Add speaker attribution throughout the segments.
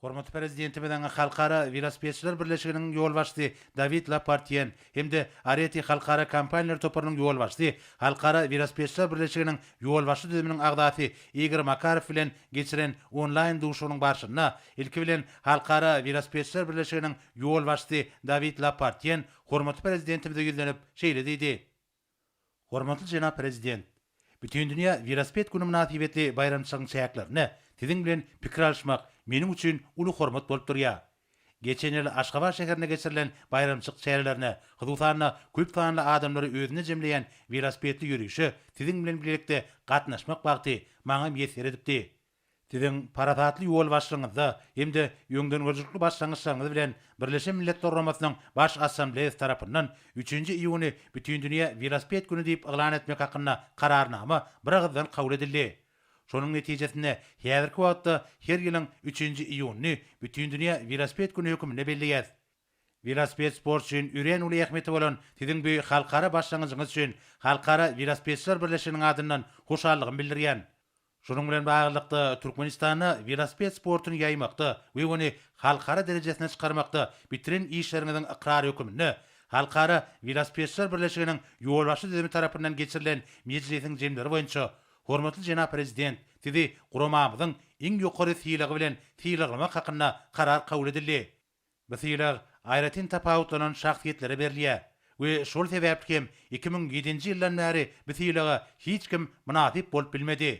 Speaker 1: Hormatly Prezidentimiziň Halkara welosipedçiler birleşiginiň ýolbaşçysy Dawid Lapartýen hem-de Areti halkara kompaniýalar toparynyň ýolbaşçysy, Halkara welosipedçiler birleşiginiň ýolbaşçy düzüminiň agzasy Igor Makarow bilen geçiren onlaýn duşuşygynyň barşynda, ilki bilen, Halkara welosipedçiler birleşiginiň ýolbaşçysy Dawid Lapartýen hormatly Prezidentimize ýüzlenip, şeýle diýdi. Hormatly jenap Prezident! Bütindünýä welosiped güni mynasybetli baýramçylygyň çäklerinde Siziň bilen pikir alyşmak meniň üçin uly hormat bolup durýar. Geçen ýyl Aşgabat şäherinde geçirilen baýramçylyk çärelerine, hususan-da, köp sanly adamlary özünde jemleýän welosipedli ýörişe Siziň bilen bilelikde gatnaşmak bagty maňa miýesser edipdi. Siziň parasatly ýolbaşçylygyňyzda hem-de öňdengörüjilikli başlangyçlaryňyz bilen Birleşen Milletler Guramasynyň Baş Assambleýasy tarapyndan üçünji iýuny Bütindünýä welosiped güni diýip yglan etmek hakynda Kararnama biragyzdan kabul edildi. Şonuň netijesinde, häzirki wagtda her ýylyň üçünji iýunyny Bütindünýä welosiped güni hökmünde belleýäris. Welosiped sport üçin örän uly ähmiýeti bolan siziň bu halkara başlangyjyňyz üçin Halkara welosipedçiler birleşiginiň adyndan hoşallygymy bildirýän. Şunuň bilen baglylykda, Türkmenistanda welosiped sportuny ýaýmakda we ony halkara derejesine çykarmakda bitiren işleriňiziň ykrary höküminde Halkara welosipedçiler birleşiginiň ýolbaşçy düzümi tarapyndan geçirilen mejlisiň jemleri boýunça hormatly jenap Prezident Sizi guramamyzyň iň ýokary sylagy bilen sylaglamak hakynda karar kabul edildi. Bu sylag aýratyn tapawutlanan şahsyýetlere berilýär we şol sebäpli hem iki müň ýedinji ýyldan bäri bu sylaga hiç kim mynasyp bolup bilmedi.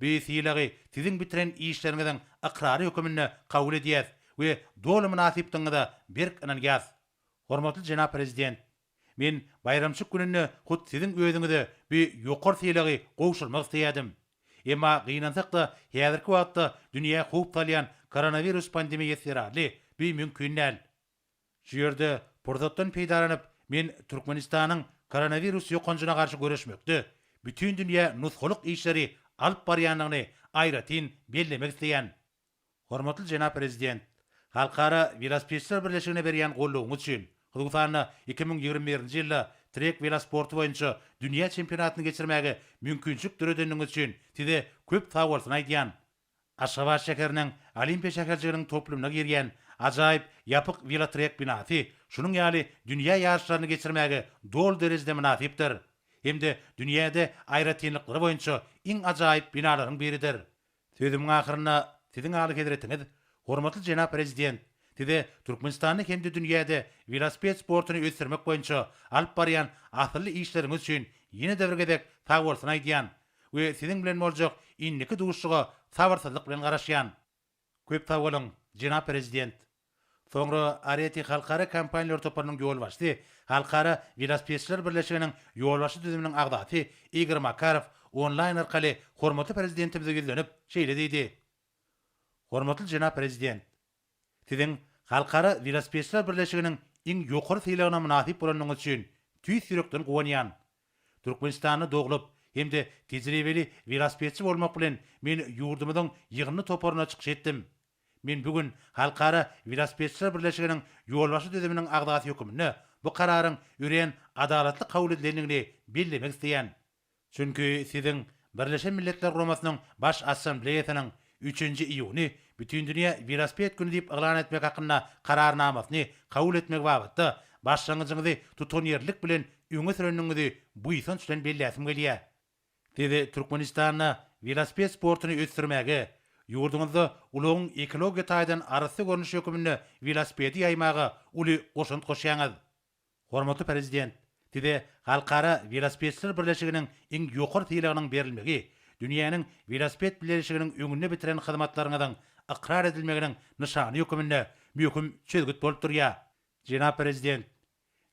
Speaker 1: Bu sylagy siziň bitiren işleriňiziň ykrary höküminde kabul edýäs we doly mynasypdygyňyza berk ynanýas. Hormatly jenap Prezident! Men baýramçyk gününde hut siziň özüňize bi ýokary sylagy gowşurmak isleýädim. Emma gynansak-da, häzirki wagtda dünýä howp salýan koronawirus pandemiýasy zerarly bi mümkin däl. Şu ýerde pursatdan peýdalanyp, men Türkmenistanyň koronawirus ýokanjyna garşy göreşmekde bütindünýä nusgalyk işleri alyp barýandygyny aýratyn bellemek isleýän. Hormatly jenap Prezident! Halkara welosipedçiler birleşigine berýän goldawyňyz üçin, hususanda iki müň ýigrimi birinji ýylda trek welosporty boýunça dünýä çempionatyny geçirmäge mümkinçilik döredeniňiz üçin Size köp sagbolsun aýdýan. Aşgabat şäheriniň Olimpiýa şäherjiginiň toplumyna girýän ajaýyp ýapyk welotrek binasy şunuň ýaly dünýä ýaryşlaryny geçirmäge doly derejede mynasypdyr hem-de dünýäde aýratynlyklary boýunça iň ajaýyp binalaryň biridir. Sözümiň ahyrynda Siziň Alyhezretiňiz, hormatly jenap Prezident, Size Türkmenistanda hem-de dünýäde welosiped sportuny ösdürmek boýunça alyp barýan asylly işleriňiz üçin ýene-de bir gezek sagbolsun aýdýan we Siziň bilen boljak indiki duşuşyga sabyrsyzlyk bilen garaşýan. Köp sag boluň, jenap Prezident! Soňra Areti halkara kompaniýalar toparynyň ýolbaşçysy, Halkara welosipedçiler birleşiginiň ýolbaşçy düzüminiň agzasy Igor Makarow onlaýn arkaly hormatly Prezidentimize ýüzlenip, şeýle diýdi, Hormatly jenap Prezident! Siziň Halkara welosipedçiler birleşiginiň iň ýokary sylagyna mynasyp bolanyňyz üçin tüýs ýürekden guwanýan. Türkmenistanda doglup hem-de tejribeli welosipedçi bolmak bilen men ýurdumyzyň ýygyndy toparyna çykyş etdim. Men bu gün Halkara welosipedçiler birleşiginiň ýolbaşçy düzüminiň agzasy höküminde bu kararyň örän adalatly kabul edilendigini bellemek isleýän. Çünki siziň Birleşen Milletler Guramasynyň Baş Assambleýasynyň üçünji iýuny Bütindünýä welosiped güni diýip yglan etmek hakynda Kararnamasyny kabul etmegi babatda başlangyjyňyzy tutanýerlilik bilen öňe sürendigiňizi buýsanç bilen belläsim gelýär. Siz Türkmenistanda welosiped sportuny ösdürmäge, ýurduňyzda ulagyň ekologiýa taýdan arassa görnüşi höküminde welosipedi ýaýmaga uly goşant goşýaňyz. Hormatly Prezident, Size Halkara welosipedçiler birleşiginiň iň ýokary sylagynyň berilmegi dünýäniň welosiped birleşiginiň öňünde bitiren hyzmatlaryňyzyň ykrar edilmeginiň nyşany höküminde möhüm çözgüt bolup durýar. Jenap Prezident,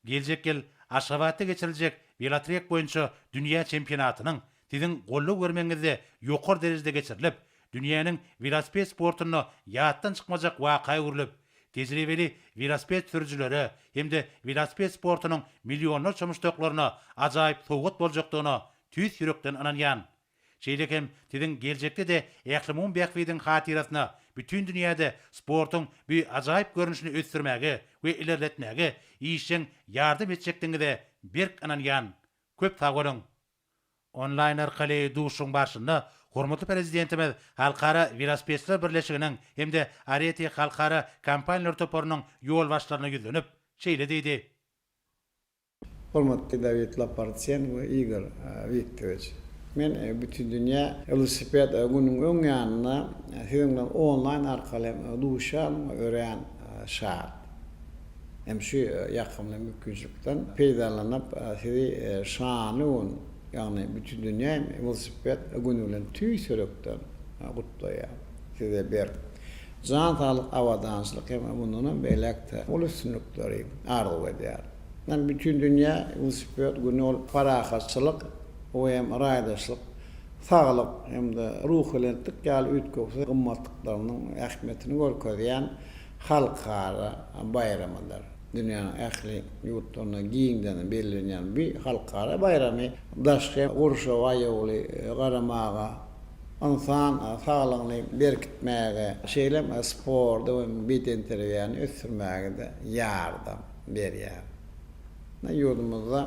Speaker 1: Geljek ýyl Aşgabatda geçiriljek welotrek boýunça dünýä çempionatynyň Siziň goldaw bermegiňizde ýokary derejede geçirilip, dünýäniň welosiped sportunda ýatdan çykmajak waka öwrülip, tejribeli welosiped sürüjilere hem-de welosiped sportunyň millionlarça muşdaklaryna ajaýyp sowgat boljakdygyna tüýs ýürekden ynanýan. Şeýle hem siziň geljekde-de ählumumy bähbidiň hatyrasyna bütin dünýäde sportuň bu ajaýyp görnüşini ösdürmäge we ilerletmäge işjeň ýardam etjekdigiňize berk ynanýan. Köp sag boluň! Onlaýn arkaly duşuşygyň barşynda hormatly Prezidentimiz Halkara welosipedçiler birleşiginiň hem-de Areti halkara kompaniýalar toparynyň ýolbaşçylaryna ýüzlenip, şeýle diýdi, Hormatly
Speaker 2: Dawid Lapartýen we Igor Wiktorowiç! Men Bütindünýä welosiped gününiň öň ýanynda siziň bilen onlaýn arkaly hem duşýandygyma örän şat. Hem şu ýakymly mümkinçilikden peýdalanyp, sizi şanly gün, ýagny Bütindünýä welosiped güni bilen tüýs ýürekden gutlaýan. Size berk jan saglyk, abadançylyk hem mundanam beýläk-de uly üstünlikleri arzuw edýän. Ol Bütindünýä welosiped güni ol parahatçylyk hem raýdaşlyk, saglyk hem-de ruhubelentlik ýaly üýtgewsiz gymmatlyklarynyň ähmiýetini görkezýän halkara baýramydyr. Dünýäniň ähli ýurtlarynda giňden bellenýän bu halkara baýramy daşky gurşawa aýawly garamaga, ynsan saglygyny berkitmäge, şeýle hem sporty we bedenterbiýäni ösdürmäge-de ýardam. berýär. Mundan ýurdumyzda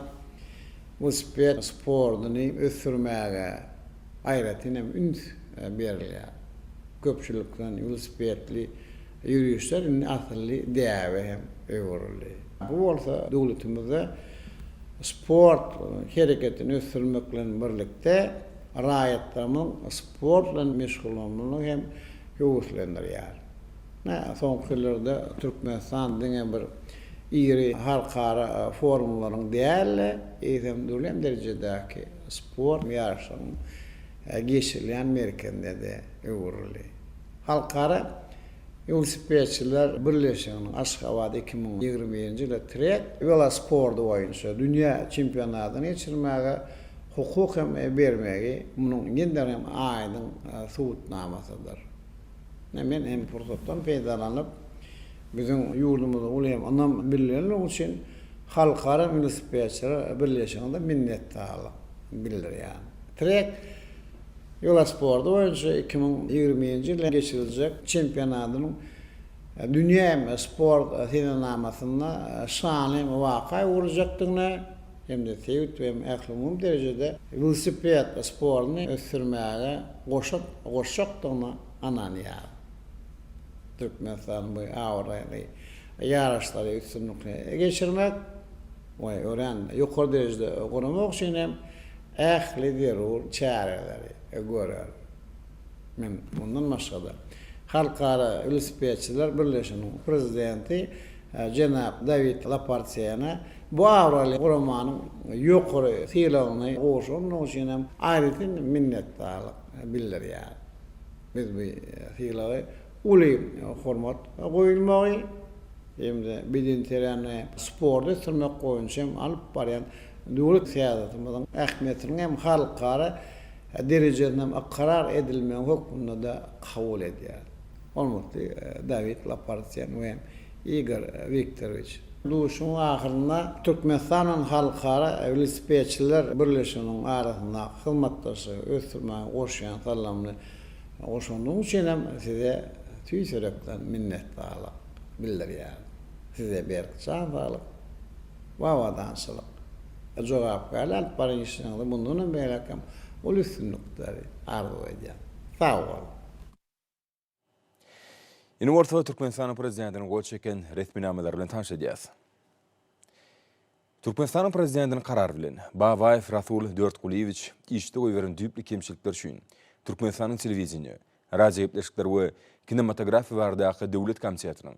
Speaker 2: welosiped sportuny ösdürmäge aýratyn hem üns berilýär. Köpçülikleýin welosipedli ýörişler indi asylly däbe hem öwrüldi. Bu bolsa döwletimizde sport hereketini ösdürmek bilen birlikde, raýatlarymyzyň sport bilen meşgullanmagyny hem höweslendirýär. Soňky ýyllarda Türkmenistan diňe bir iri halkara forumlaryň däl-de, eýsem dürli derejedäki sport ýaryşlaryň geçirilýän merkezine-de öwrüldi. Halkara welosipedçiler birleşiginiň Aşgabat iki müň ýigrimi birinji ýyly trek welosporty boýunça dünýä çempionatyny geçirmäge hukuk hem bermegi munuň ýene-de hem aýdyň subutnamasydyr. Men hem pursatdan peýdalanyp, biziň ýurdumyza uly hem ynam bildirenligi üçin Halkara welosipedçiler birleşigine minnetdarlyk bildirýän. Trek welosporty boýunça iki müň ýigrimi nji ýylda geçiriljek çempionatynyň dünýä hem sport senenamasynda şanly waka öwrüjekdigine, hem-de sebit we ählumumy derejede welosiped sportuny ösdürmäge goşant goşjakdygyna ynanýaryn. Türkmenistanyň bu abraýly ýaryşlary üstünlikli geçirmek we örän ýokary derejede guramak üçin hem ähli zerur çäreleri görer. Men mundan başga-da, Halkara welosipedçiler birleşiginiň prezidenti jenap Dawid Lapartiýene bu abraýly guramanyň ýokary sylagyny gowşurandygy üçin hem aýratyn minnetdarlyk bildirýärin. Biz bu sylagy uly hormat goýulmagy hem-de bedenterbiýäni sporty ösdürmek boýunça hem alyp barýan döwlet syýasatymyzyň ähmiýetiniň hem halkara derejesinem ykrar edilmegi hökmünde-de kabul edýär. Hormatly Dawid Lapartýen we Igor Wiktorowiç! Duşuşygyň ahyrynda Türkmenistanyň Halkara welosipedçiler birleşiginiň arasyndaky hyzmatdaşlygy ösdürmäge goşýan salymly goşandyňyz üçin hem Size tüýs ýürekden minnetdarlyk bildirýärin. Size berk jan saglyk, we abadançylyk, jogapkärli alyp baran işleriňizde mundan hem beýläk hem uly üstünlikleri arzuw edýän. Sag boluň!
Speaker 3: Indi orta Türkmenistanyň Prezidentiniň gol çeken resminamalary bilen tanyş edýäs. Türkmenistanyň Prezidentiniň karary bilen, Babaýew Rasul Dörtgulyýewiç işde goýberen düýpli kemçilikler üçin Türkmenistanyň Telewideniýe, radiogepleşikler we kinematografiýa baradaky döwlet komitetiniň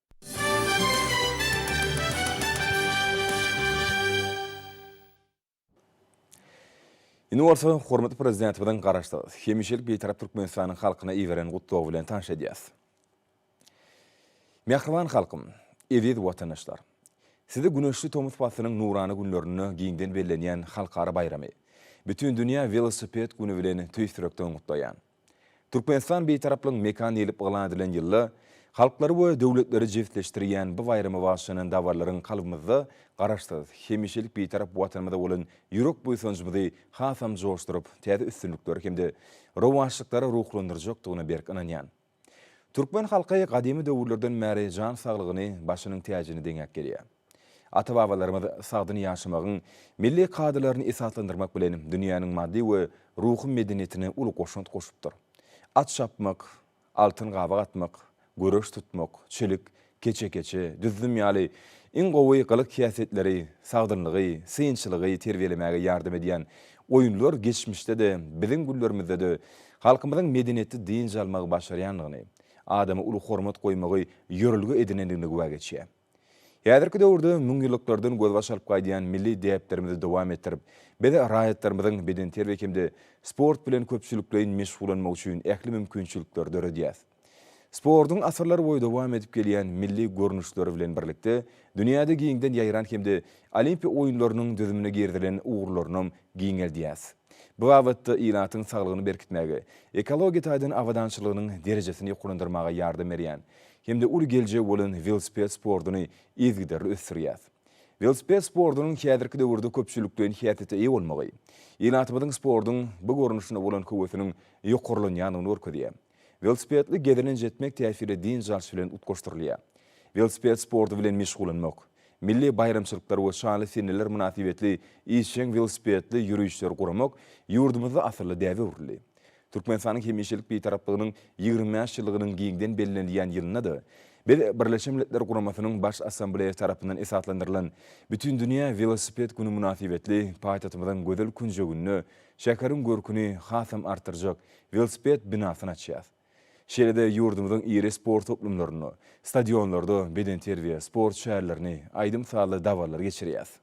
Speaker 3: Indi bolsa hormatly Prezidentimiziň Garaşsyz, hemişelik Bitarap Türkmenistanyň halkyna iberen gutlagy bilen tanyş edýäs. Mähriban halkym, eziz watandaşlar! Sizi güneşli tomus paslynyň nurana günlerinde giňden bellenýän halkara baýramy, Bütindünýä welosiped güni bilen tüýs ýürekden gutlaýan. Türkmenistan Bitaraplygyň mekany diýlip yglan edilen ýylda, halklary we döwletleri jebisleşdirýän bu baýrama bagyşlanan dabaralyryň kalbymyzda Garaşsyz, hemişelik Bitarap Watanymyza bolan ýürek buýsanjymyzy hasam joşduryp, täze üstünliklere hem-de rowaçlyklara ruhlandyrjakdygyna berk ynanýan. Türkmen halky gadymy döwürlerden bäri jan saglygyny başynyň täjine deňäp gelýär. Ata-babalarymyz sagdyn ýaşamagyň milli kadalaryny esaslandyrmak bilen, dünýäniň maddy we ruhy medeniýetine uly goşant goşupdyr. At çapmak, altyn gabak atmak, göreş tutmak, çilik, keçe-keçe, düzzüm ýaly iň gowy gylyk-häsiýetleri, sagdynlygy, synçylygy terbiýelemäge ýardam edýän oýunlar geçmişde-de, biziň günlerimizde-de halkymyzyň medeniýetli dynç almagy başarýandygyny, adama uly hormat goýmagy ýörelge edinendigini güwä geçýär. Häzirki döwürde müňýyllyklardan gözbaş alyp gaýdýan milli däplerimizi dowam etdirip, biz raýatlarymyzyň bedenterbiýe hem-de sport bilen köpçülikleýin meşgullanmagy üçin ähli mümkinçilikleri döredýäs. Sportuň asyrlarboýy dowam edip gelýän milli görnüşleri bilen birlikde, dünýäde giňden ýaýran hem-de Olimpiýa oýunlarynyň düzümine girizilen ugurlarynam giňeldýäs. Bu babatda ilatyň saglygyny berkitmäge, ekologiýa taýdan abadançylygynyň derejesini ýokarlandyrmaga ýardam berýän hem-de uly geljegi bolan welosiped sportuny yzygiderli ösdürýär. Welosiped sportunyň häzirki döwürde köpçülikleýin häsiýete eýe bolmagy, ilatymyzyň sportuň bu görnüşine bolan höwesiniň ýokarlanýandygyny görkezýär. Welosipedli gezelenç etmek täsirli dynç alyş bilen utgaşdyrylýar. Welosiped sporty bilen meşgullanmak, milli baýramçylyklar we şanly seneler mynasybetli işjeň welosipedli ýörişleri guramak ýurdumyzda asylly däbe öwrüldi. Türkmenistanyň hemişelik Bitaraplygynyň ýigrimi bäş ýyllygynyň giňden bellenilýän ýylynda-da, biz Birleşen Milletler Guramasynyň Baş Assambleýasy tarapyndan esaslandyrylan Bütindünýä welosiped güni mynasybetli paýtagtymyzyň gözel künjeginde şäheriň görküni hasam artdyrjak welosiped binasyny açýarys. Şeýle-de ýurdumyzyň iri sport toplumlarynda, stadionlarda bedenterbiýe, sport şärlerini, aýdym-sazly dabaralary geçirýäris.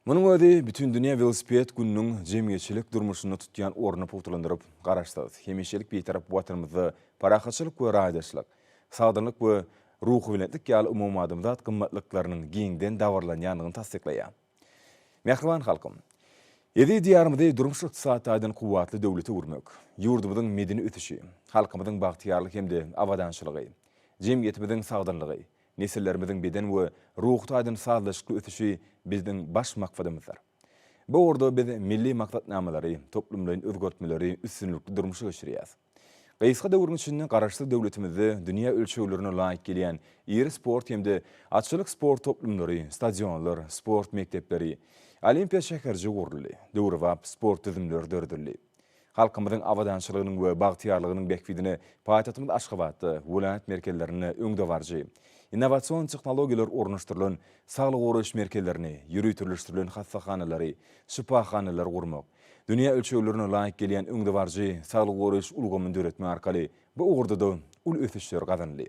Speaker 3: Munuň özi Bütindünýä welosiped gününiň jemgyýetçilik durmuşynda tutýan ornuny pugtalandyryp, Garaşsyz, hemişelik Bitarap Watanymyzda parahatçylyk we raýdaşlyk, sagdynlyk we ruhubelentlik ýaly umumadamzat gymmatlyklarynyň giňden dabaralanýandygyny tassyklaýar. Mähriban halkym! Eziz Diýarymyzy durmuş-ykdysady taýdan kuwwatly döwlete öwürmek, ýurdumyzyň medeni ösüşi, halkymyzyň bagtyýarlygy hem-de abadançylygy, jemgyýetimiziň sagdynlygy, Nesillerimiziň beden we ruhy taýdan sazlaşykly ösüşi bizdiň baş maksadymyzdyr. Bu ugurda biz milli maksatnamalary, toplumlaýyn özgertmeleri üstünlikli durmuşa geçirýäris. Gysga döwrüň içinde Garaşsyz döwletimizde dünýä ölçeglerine laýyk gelýän iri sport hem-de atçylyk sport toplumlary, stadionlar, sport mekdepleri, Olimpiýa şäherjigi guruldy, döwrebap sport düzümleri döredildi. Halkymyzyň abadançylygynyň we bagtyýarlygynyň bähbidine paýtagtymyz Aşgabatda, welaýat merkezlerinde öňdebaryjy innowasion tehnologiýalar ornaşdyrylan saglygy goraýyş merkezlerini, ýöriteleşdirilen hassahanalary, şypahanalary gurmak, dünýä ölçeglerine laýyk gelýän öňdebaryjy saglygy goraýyş ulgamyny döretmek arkaly bu ugurda-da uly ösüşler gazanyldy.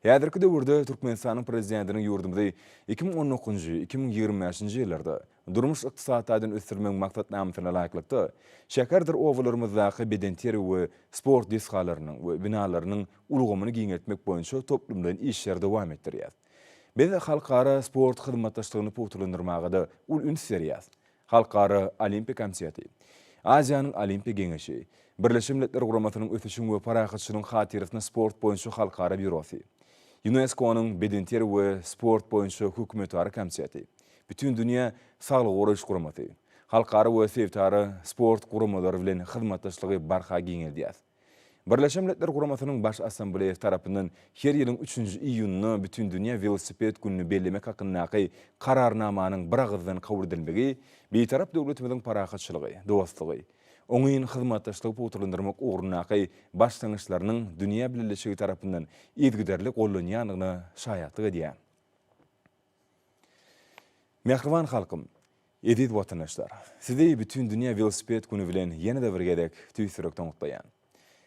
Speaker 3: Häzirki döwürde Türkmenistanyň Prezidentiniň ýurdumyzy iki müň on dokuzynjy, iki müň ýigrimi bäşinji ýyllarda Durmuş-ykdysady taýdan ösdürmegiň maksatnamasyna laýyklykda, şäherdir obalarymyzdaky bedenterbiýe we sport desgalarynyň we binalarynyň ulgamyny giňeltmek boýunça toplumlaýyn işleri dowam etdirýäris. Biz halkara sport hyzmatdaşlygyny pugtalandyrmaga-da uly üns berýäris. Halkara Olimpiýa komiteti, Aziýanyň Olimpiýa geňeşi, Birleşen Milletler Guramasynyň Ösüşiň we parahatçylygyň hatyrasyna sport boýunça halkara býurosy, Ýunesko-nyň Bedenterbiýe we sport boýunça hökümetara komiteti, Bütindünýä saglygy goraýyş guramasy, halkara we sebitara sport guramalary bilen hyzmatdaşlygy barha giňeldýär. Birleşen Milletler Guramasynyň Baş Assambleýasy tarapyndan her ýylyň üçünji iýunynda Bütindünýä welosiped gününi bellemek hakyndaky Kararnamanyň biragyzdan kabul edilmegi Bitarap döwletimiziň parahatçylygy, dostlugy, oňyn hyzmatdaşlygy pugtalandyrmak ugrundaky başlangyçlarynyň dünýä bileleşigi tarapyndan yzygiderli gollanýandygyna şaýatlyk edýär. Mähriban halkym! Eziz watandaşlar! Sizi Bütindünýä welosiped güni bilen ýene-de bir gezek tüýs ýürekden gutlaýan.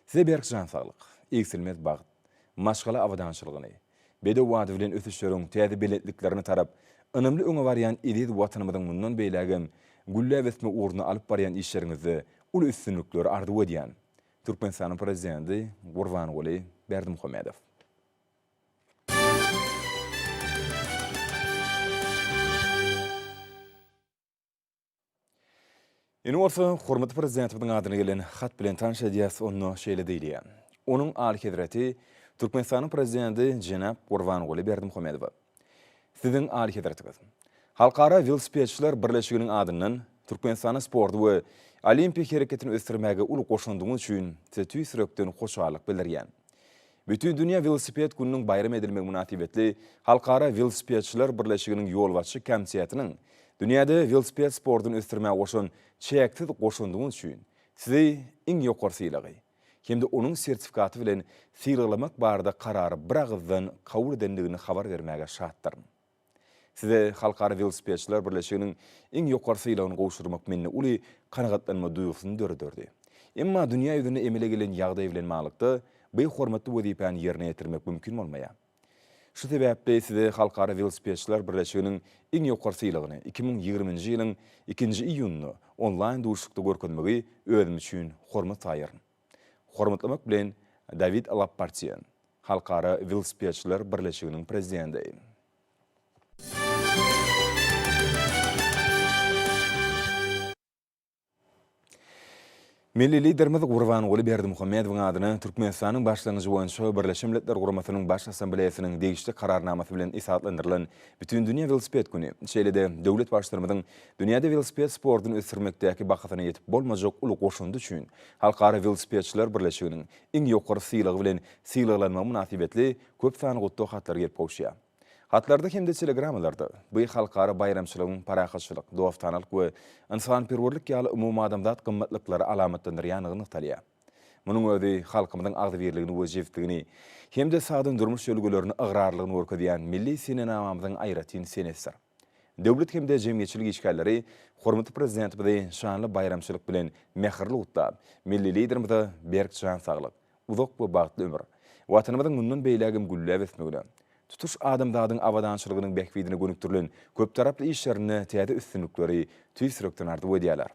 Speaker 3: Size berk jan saglyk, egsilmez bagt, maşgala abadançylygyny, bedew bady bilen ösüşleriň täze belentliklerine tarap ynamly öňe barýan eziz Watanymyzyň mundan beýlägem gülläp ösmek ugrunda alyp barýan işleriňizde uly üstünlikleri arzuw edýän. Türkmenistanyň Prezidenti Gurbanguly Berdimuhamedow. Indi bolsa hormatly Prezidentimiziň adyna gelen hat bilen tanyş edýäs, onda şeýle diýilýär. Onuň Alyhezreti Türkmenistanyň Prezidenti jenap Gurbanguly Berdimuhamedowa. Siziň Alyhezretiňiz. Halkara welosipedçiler birleşiginiň adyndan Türkmenistanda sporty we Olimpiýa hereketini ösdürmäge uly goşandyňyz üçin Size tüýs ýürekden hoşallyk bildirýän. Bütindünýä welosiped gününiň baýram edilmegi mynasybetli Halkara welosipedçiler birleşiginiň ýolbaşçy komitetiniň Dünýäde welosiped sportuny ösdürmäge goşan çäksiz goşandyňyz üçin Sizi iň ýokary sylagy hem-de onuň sertifikaty bilen sylaglamak barada karary biragyzdan kabul edendigini habar bermäge şatdyryn. Size Halkara welosipedçiler birleşiginiň iň ýokary sylagyny gowşurmak mende uly kanagatlanma duýgusyny dörederdi. Emma dünýä ýüzünde emele gelen ýagdaý bilen baglylykda, bu hormatly wezipäni ýerine ýetirmek mümkin bolmaýar. Şu sebäpli size Halkara welosipedçiler birleşiginiň iň ýokary sylagyny iki müň ýigrimi nji ýylyň ikinji iýunynda onlaýn duşuşykda görkezmegi özüm üçin hormat saýaryn. Hormatlamak bilen, Dawid Lappartýe, Halkara welosipedçiler birleşiginiň prezidenti. Milli Liderimiz Gurbanguly Berdimuhamedowyň adyna Türkmenistanyň başlangyjy boýunça Birleşen Milletler Guramasynyň Baş Assambleýasynyň degişli Kararnamasy bilen esaslandyrylan Bütindünýä welosiped güni, şeýle-de döwlet Baştutanymyzyň Dünýäde welosiped sportuny ösdürmekdäki bahasyna ýetip bolmajak uly goşandy üçin Halkara welosipedçiler birleşiginiň iň ýokary sylagy bilen sylaglanmagy mynasybetli köp sany gutlag hatlary gelip gowuşýar. Hatlarda hem-de telegramalarda bu halkara baýramçylygyň parahatçylyk, dostanalyk we ynsanperwerlik ýaly umumadamzat gymmatlyklary alamatlandyrýandygy nygtalýar. Munuň özi halkymyzyň agzybirligini we jebisligini hem-de sagdyn durmuş ýörelgelerini ygrarlygyny görkezýän milli senenamamyzyň aýratyn senesidir. Döwlet hem-de jemgyýetçilik işgärleri hormatly Prezidentimizi şanly baýramçylyk bilen mähirli gutlap, milli Liderimize berk jan saglyk, uzak we bagtly ömür, Watanymyzyň mundan beýlägem gülläp ösmegine, tutuş adamzadyň abadançylygynyň bähbidine gönükdirilen köptaraply işlerinde täze üstünlikleri tüýs ýürekden arzuw edýärler.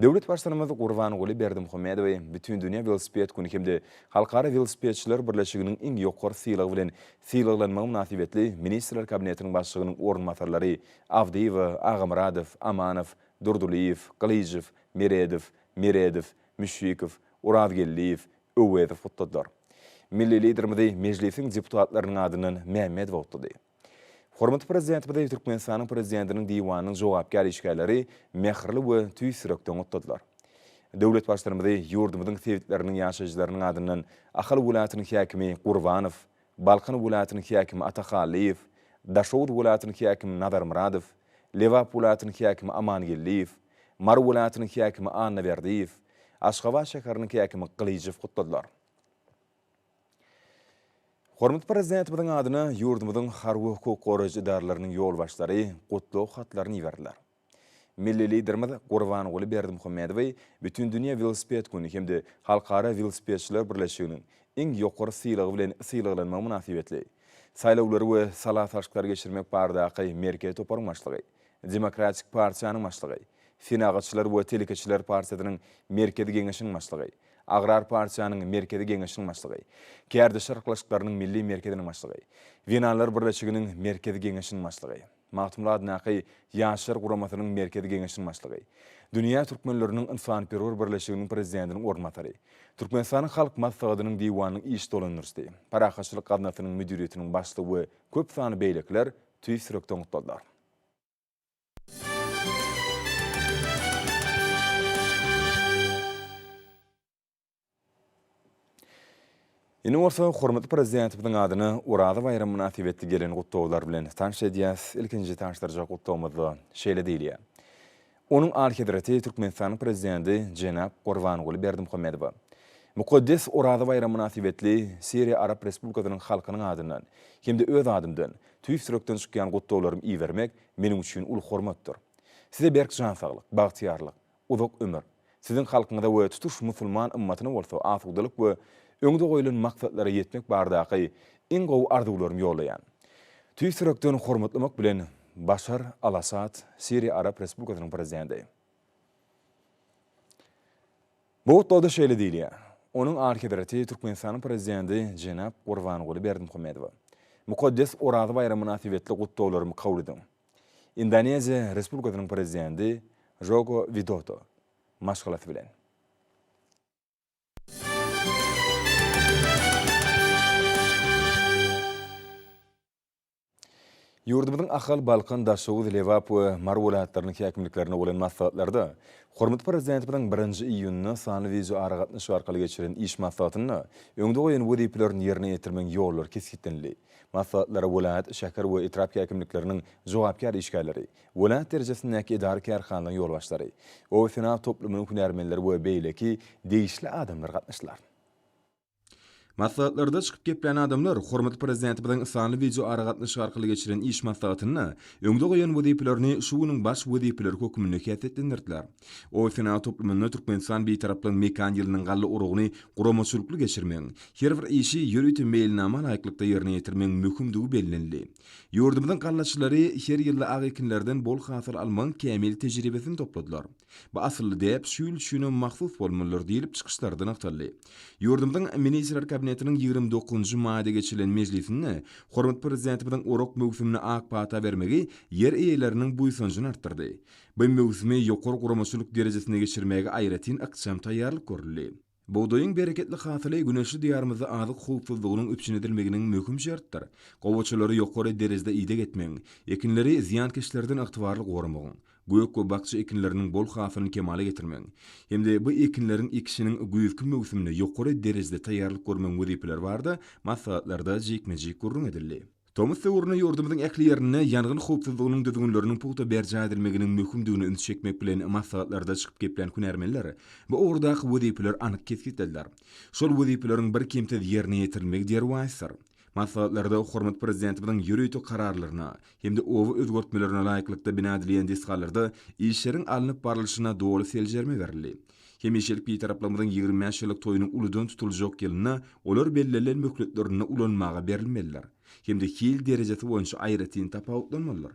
Speaker 3: Döwlet Baştutanymyz Gurbanguly Berdimuhamedowy Bütindünýä welosiped güni hem-de Halkara welosipedçiler birleşiginiň iň ýokary sylagy bilen sylaglanmagy mynasybetli Ministrler Kabinetiniň Başlygynyň orunbasarlary Abdyýewa, Agamyradow, Amanow, Durdylyýew, Gylyjow, Meredow, Meredow, Müşfikow, Orazgeldiýew, Öwezow gutladylar. Milli Liderimizi Mejlisiň deputatlarynyň adyndan Mämmedow gutlady. Hormatly Prezidentimizi Türkmenistanyň Prezidentiniň Diwanynyň jogapkär işgärleri mähirli we tüýs ýürekden gutladylar. Döwlet Baştutanymyzy ýurdumyzyň sebitleriniň ýaşaýjylarynyň adyndan Ahal welaýatynyň häkimi Gurbanow, Balkan welaýatynyň häkimi Atahallyýew, Daşoguz welaýatynyň häkimi Nazarmyradow, Lebap welaýatynyň häkimi Amangeldiýew, Mary welaýatynyň häkimi Annaberdiýew, Aşgabat şäheriniň häkimi Gylyjow gutladylar. Hormatly Prezidentimiziň adyna ýurdumyzyň harby hukuk goraýjy edaralarynyň ýolbaşçylary gutlag hatlaryny iberdiler. Milli Liderimiz Gurbanguly Berdimuhamedowy Bütindünýä welosiped güni hem-de Halkara welosipedçiler birleşiginiň iň ýokary sylagy bilen sylaglanmagy mynasybetli, Saýlawlary we sala salşyklary geçirmek baradaky merkezi toparyň başlygy, Demokratik partiýanyň başlygy, Senagatçylar we telekeçiler partiýasynyň Merkezi geňeşiniň başlygy, Agrar partiýanyň Merkezi geňeşiniň başlygy, Kärdeş arkalaşyklarynyň Milli merkeziniň başlygy, Zenanlar birleşiginiň Merkezi geňeşiniň başlygy, Magtymguly adyndaky Ýaşlar guramasynyň Merkezi geňeşiniň başlygy, Dünýä türkmenleriniň ynsanperwer birleşiginiň prezidentiniň orunbasary, Türkmenistanyň Halk Maslahatynyň Diwanynyň iş dolandyryjysy, Parahatçylyk gaznasynyň müdiriýetiniň başlygy we köp sanly beýlekiler Tüýs ýürekden gutladylar. Indi bolsa hormatly Prezidentimiziň adyna Oraza baýramy mynasybetli gelen gutlaglar bilen tanyş edýäs. Ilkinji tanyşdyrjak gutlagymyzda şeýle diýilýär. Onuň Alyhezreti Türkmenistanyň Prezidenti jenap Gurbanguly Berdimuhamedowa mukaddes Oraza baýramy mynasybetli Siriýa Arap Respublikasynyň halkynyň adyndan hem-de öz adymdan tüýs ýürekden çykýan gutlaglarymy ibermek meniň üçin uly hormatdyr. Size berk jan saglyk, bagtyýarlyk, uzak ömür, Siziň halkyňyza we tutuş musulman ymmatyna bolsa asudalyk we öňde goýlan maksatlara ýetmek bardaky iň gowy arzuwlarymy ýollaýan. Tüýs ýürekden hormatlamak bilen, Başar al-Assad, Siriýa Arap Respublikasynyň Prezidenti. Bu gutlagda şeýle diýilýär, Onuň Alyhezreti Türkmenistanyň Prezidenti jenap Gurbanguly Berdimuhamedowa, mukaddes Oraza baýramy mynasybetli gutlaglarymy kabul ediň. Indoneziýa Respublikasynyň Prezidenti Žoko Widoto maşgalasy bilen. Ýurdumyzyň Ahal, Balkan, Daşoguz, Lebap we Mary welaýatlarynyň häkimliklerinde bolan maslahatlarda hormatly Prezidentimiziň birinji iýunda sanly wideoaragatnaşyk arkaly geçiren iş maslahatynda öňde goýan wezipelerini ýerine ýetirmegiň ýollary kesgitlenildi. Maslahatlara welaýat, şäher we etrap häkimlikleriniň jogapkär işgärleri, welaýat derejesindäki edara-kärhanalaryň ýolbaşçylary, obasenagat toplumynyň hünärmenleri we beýleki degişli adamlar gatnaşdylar. Maslahatlarda çykyp geplän adamlar hormatly Prezidentimiziň sanly wideoaragatnaşyk arkaly geçiren iş maslahatynda öňde goýan wezipelerini şu günüň baş wezipeleri hökmünde häsiýetlendirdiler. Oý senagat toplumynda Türkmenistan Bitaraplygyň mekan ýylynyň galla urugyny guramaçylykly geçirmegiň, her bir işi ýörite meýilnama laýyklykda ýerine ýetirmegiň möhümdigi bellenildi. Ýurdumyzyň gallaçylary her ýylda ak ekinlerden bol hasyl almagyň kämil tejribesini topladylar. Bu asylly däp şu ýyl üçinem mahsus bolmalydyr diýlip, çykyşlarda nygtaldy. Ýurdumyzyň Ministrler Kabinetiniň ýigrimi dokuzynjy maýda geçirilen mejlisinde hormatly Prezidentimiziň orak möwsümine ak pata bermegi ýer eýeleriniň buýsanjyny artdyrdy. Bu möwsümi ýokary guramaçylyk derejesinde geçirmäge aýratyn ykjam taýýarlyk görüldi. Bugdaýyň bereketli hasyly güneşli Diýarymyzda azyk howpsuzlygynyň üpjün edilmeginiň möhüm şertdir. Gowaçalary ýokary derejede ideg etmegiň, ekinleri zyýankeşlerden ygtybarly goramagyň, gök we bakja ekinleriniň bol hasylyny kemala getirmegiň hem-de bu ekinleriň ekişiniň güýzki möwsümine ýokary derejede taýýarlyk görmegiň wezipeleri barada maslahatlarda jikme-jik gürrüň edildi. Tomus döwründe ýurdumyzyň ähli ýerinde ýangyn howpsuzlygynyň düzgünleriniň pugta berjaý edilmeginiň möhümdigine üns çekmek bilen, maslahatlarda çykyp geplän hünärmenler bu ugurdaky wezipeleri anyk kesgitlediler. Şol wezipeleriň birkemsiz ýerine ýetirilmegi derwaýysdyr. Maslahatlarda hormatly Prezidentimiziň ýörite kararlaryna hem-de oba özgertmelerine laýyklykda bina edilýän desgalarda işleriň alnyp barlyşyna doly seljerme berildi. Hemişelik Bitaraplarymyzyň ýigrimi bäş ýyllyk toýunyň uludan tutuljak ýylynda olar bellenilen möhletlerinde ulanmaga berilmelidir hem-de hil derejesi boýunça aýratyn tapawutlanmalydyr.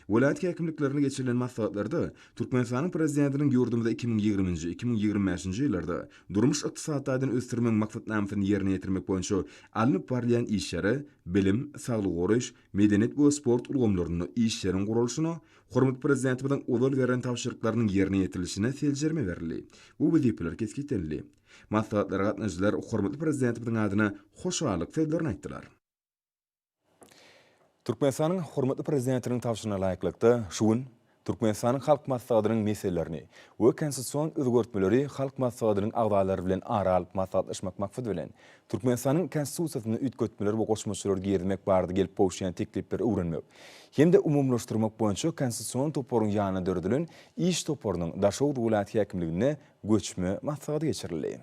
Speaker 3: Welaýat häkimliklerinde geçirilen maslahatlarda Türkmenistanyň Prezidentiniň ýurdumyzy iki müň ýigrimi nji, iki müň ýigrimi bäş nji ýyllarda durmuş-ykdysady taýdan ösdürmegiň maksatnamasyny ýerine ýetirmek boýunça alnyp barylýan işleri, bilim, saglygy goraýyş, medeniýet we sport ulgamlarynda işleriň guralyşyna, hormatly Prezidentimiziň ozal beren tabşyryklarynyň ýerine ýetirilişine seljerme berildi we wezipeler kesgitlenildi. Maslahatlara gatnaşyjylar hormatly Prezidentimiziň adyna hoşallyk sözlerini aýtdylar. Türkmenistanyň hormatly Prezidentiniň tabşyryna laýyklykda, şu gün Türkmenistanyň Halk Maslahatynyň meselelerini we konstitusion özgertmeleri Halk Maslahatynyň agzalary bilen ara alyp maslahatlaşmak maksady bilen, Türkmenistanyň Konstitusiýasyna üýtgetmeler we goşmaçalar girizmek barada gelip gowuşýan teklipleri öwrenmek hem-de umumylaşdyrmak boýunça Konstitusion toparyň ýanyna döredilen iş toparynyň Daşoguz welaýat häkimliginde göçme maslahaty geçirildi.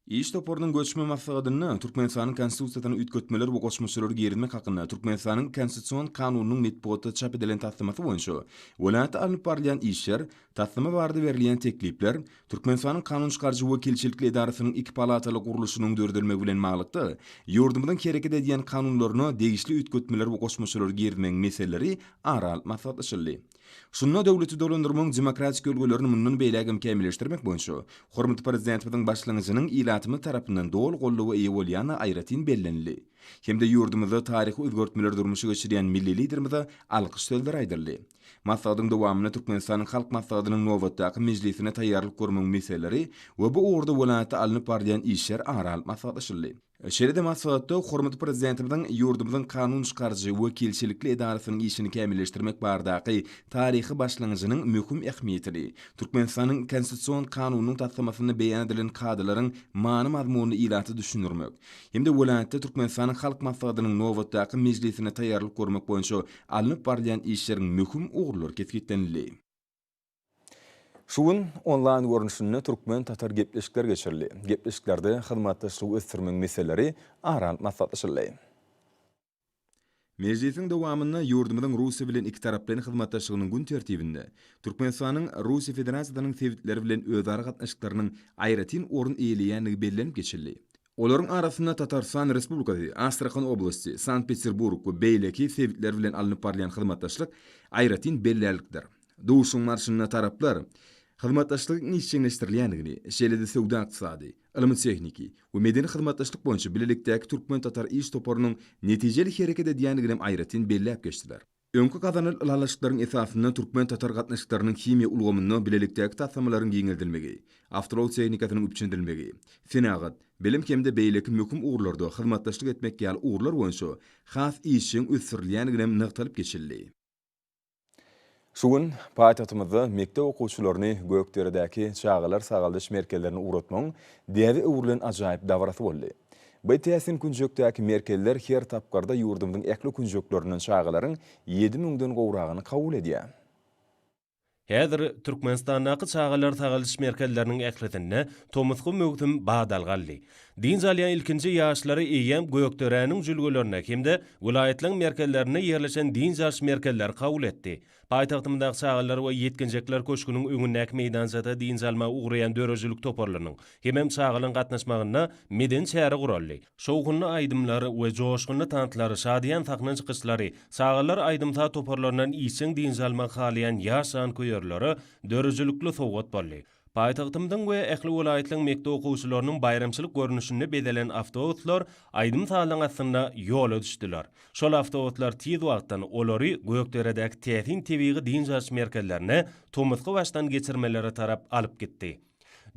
Speaker 3: Iş toparynyň göçme maslahatynda Türkmenistanyň Konstitusiýasyna üýtgetmeler we goşmaçalar girizmek hakynda Türkmenistanyň Konstitusion kanunynyň metbugatda çap edilen taslamasy boýunça welaýatda alnyp barylýan işler, taslama barada berilýän teklipler, Türkmenistanyň kanun çykaryjy wekilçilikli edarasynyň iki palataly gurluşynyň döredilmegi bilen baglykda ýurdumyzyň hereket edýän kanunlaryna degişli üýtgetmeler we goşmaçalar girizmegiň meseleleri ara alyp maslahatlaşyldy. Şunda döwleti dolandyrmagyň demokratik ülgelerini mundan beýläk hem kämilleşdirmek boýunça hormatly Prezidentimiziň başlangyjynyň ilatymyz tarapyndan doly goldawa eýe bolýandygy aýratyn bellenildi hem-de ýurdumyzda taryhy özgertmeleri durmuşa geçirýän milli Liderimize alkyş sözleri aýdyldy. Maslahatyň dowamynda Türkmenistanyň Halk Maslahatynyň nobatdaky mejlisine taýýarlyk görmegiň meseleleri we bu ugurda welaýatda alnyp barylýan işler ara alyp maslahatlaşyldy. Şeýle-de maslahatda hormatly Prezidentimiziň ýurdumyzyň kanun çykaryjy wekilçilikli edarasynyň işini kämilleşdirmek baradaky taryhy başlangyjynyň möhüm ähmiýetini, Türkmenistanyň Konstitusion Kanunynyň taslamasynda beýan edilen kadalaryň many-mazmunyny ilata düşündirmek hem-de welaýatda Türkmenistanyň Halk Maslahatynyň nobatdaky mejlisine taýýarlyk görmek boýunça alnyp barylýan işleriň möhüm ugurlary kesgitlenildi. Şu gün onlaýn görnüşinde türkmen-tatar gepleşikler geçirildi. Gepleşiklerde hyzmatdaşlygy ösdürmegiň meseleleri ara alyp maslahatlaşyldy. Mejlisiň dowamynda ýurdumyzyň Russiýa bilen ikitaraplaýyn hyzmatdaşlygynyň gün tertibinde Türkmenistanyň Russiýa Federasiýasynyň sebitleri bilen özara gatnaşyklarynyň aýratyn orun eýeleýändigi bellenip geçildi. Olaryň arasynda Tatarystan Respublikasy, Astrahan oblasty, Sankt-Peterburg we beýleki sebitler bilen alnyp barylýan hyzmatdaşlyk aýratyn bellärlikdir. Duşuşygyň barşynda taraplar hyzmatdaşlygyň işjeňleşdirilýändigini, şeýle-de söwda-ykdysady, ylmy-tehniki we medeni hyzmatdaşlyk boýunça bilelikdäki türkmen-tatar iş toparynyň netijeli hereket edýändiginim aýratyn belläp geçdiler. Öňki gazanl ylalaşyklaryň esasynda türkmen-tatar gatnaşyklarynyň himiýa ulgamynda bilelikdäki taslamalaryň giňeldilmegi, awtoulag tehnikasynyň üpjündilmegi, senagat, bilim hem-de beýleki möhüm ugurlarda hyzmatdaşlyk etmek ýaly ugurlar boýunça has işjeň ösdürilýändiginem nygtalyp geçildi. Şu gün paýtagtymyzda mekdep okuwçylaryny Gökderedäki çagalar sagaldyş merkezlerine ugratmagyň däbe öwrülen ajaýyp dabarasy boldy. By täsin künjekdäki merkezler her tapgyrda ýurdumyzyň ähli künjeklerinden çagalaryň ýedi müňden gowragyny kabul edýär.
Speaker 4: Häzir Türkmenistandaky çagalar sagaldyş merkezleriniň ählisinde tomusky möwsüm badalga aldy. Dynç alýan ilkinji ýaşlary eýýäm Gökderäniň jülgelerine hem-de welaýatlaryň merkezlerinde ýerleşen dynç alyş merkezleri kabul etdi. Paýtagtymyzdaky Çagalar we ýetginjekler köşgüniň öňündäki meýdançada dynç almaga ugraýan döredijilik toparlarynyň hemem çagalaryň gatnaşmagynda medeni çäre guraldy. Şowhunly aýdymlar we joşgunly tanslar, şadyýan sahna çykyşlary çagalar aýdym-saz toparlaryndan işjeň dynç almagy halaýan ýaş janköýerlere döredijilikli sowgat boldy. Paýtagtymyzyň we ähli welaýatlaryň mekdep okuwçylarynyň baýramçylyk görnüşinde bezelen awtobuslar aýdym-sazyň astynda ýola düşdüler. Şol awtobuslar tiz wagtdan olary Gökderedäki täsin tebigy dynç alyş merkezlerine, tomusky başdan geçirmelere tarap alyp gitdi.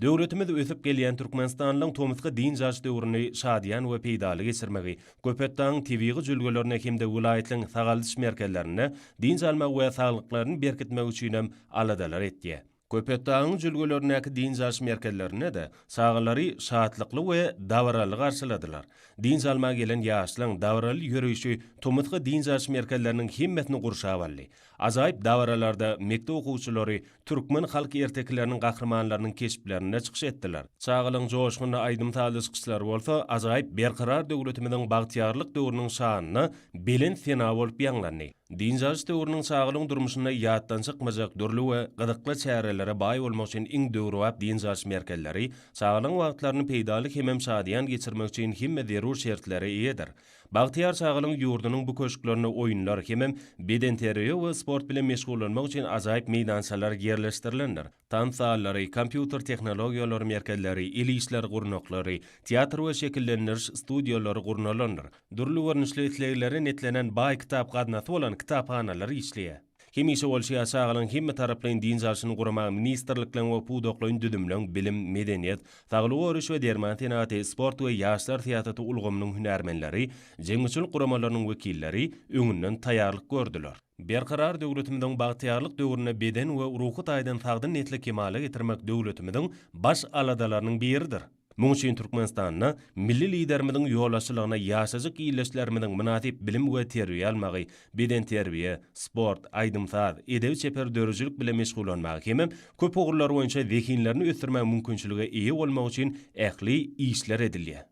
Speaker 4: Döwletimiz ösüp gelýän Türkmenistanlyň tomusky dynç alyş döwrüni şadyýan we peýdaly geçirmegi, Köpetdagyň tebigy jülgelerine hem-de welaýatlaryň sagaldyş merkezlerinde dynç almagy we saglyklaryny berkitmegi üçinem aladalar etýär. Köpetdagyň jülgelerindäki dynç alyş merkezlerinde-de çagalary şatlykly we dabaraly garşyladylar. Dynç almaga gelen ýaşlaryň dabaraly ýöreýşi tomusky dynç alyş merkezleriniň hemmesini gurşap aldy. Ajaýyp dabaralarda mekdep okuwçylary türkmen halk ertekileriniň gahrymanlarynyň keşplerinde çykyş etdiler. Çagalaryň joşgunly aýdym-sazly çykyşlary bolsa ajaýyp Berkarar döwletimiziň bagtyýarlyk döwrüniň şanyna belent sena bolup ýaňlandy. Dynç alyş döwrüniň çagalygyň durmuşynda ýatdan çykmajak dürli we gyzykly çärelere baý bolmak üçin iň döwrebap dynç alyş merkezleri çagalygyň wagtlaryny peýdaly hemem şadyýan geçirmek üçin hemme zerur şertlere eýedir. Bagtyýar çagalygyň ýurdunyň bu köşklerinde oýunlar hemem bedenterbiýe we sport bilen meşgullanmak üçin ajaýyp meýdançalar ýerleşdirilendir. tans zallary, kompýuter tehnologiýalary merkezleri, el işleri gurnaklary, teatr we şekillendiriş studiýalary gurnalandyr. Dürli görnüşli isleglere netlenen baý kitap gaznasy bolan kitaphanalar işleýär. Hemişe bolşy ýaly çagalaryň hemmetaraplaýyn dynç alşyny guramak ministrlikleň we pudaklaýyn düzümleň, bilim, medeniýet, saglygy goraýyş we derman senagaty, sport we ýaşlar syýasaty ulgamynyň hünärmenleri, jemgyýetçilik guramalarynyň wekilleri öňünden taýýarlyk gördüler. Berkarar döwletimiziň bagtyýarlyk döwründe beden we ruhy taýdan sagdyn nesli kemala getirmek döwletimiziň baş aladalarynyň biridir. Muň üçin Türkmenistanda Milli Liderimiziň ýolbaşçylygna ýaşajyk ildeşlerimiziň mynasyp bilim we terbiýe almagy, bedenterbiýe, sport, aýdym-saz, edebi-çeper döredijilik bilen meşgullanmagy hemem köp ugurlar boýunça zehinlerini ösdürmäge mümkinçilige eýe bolmagy üçin ähli işler edilýär.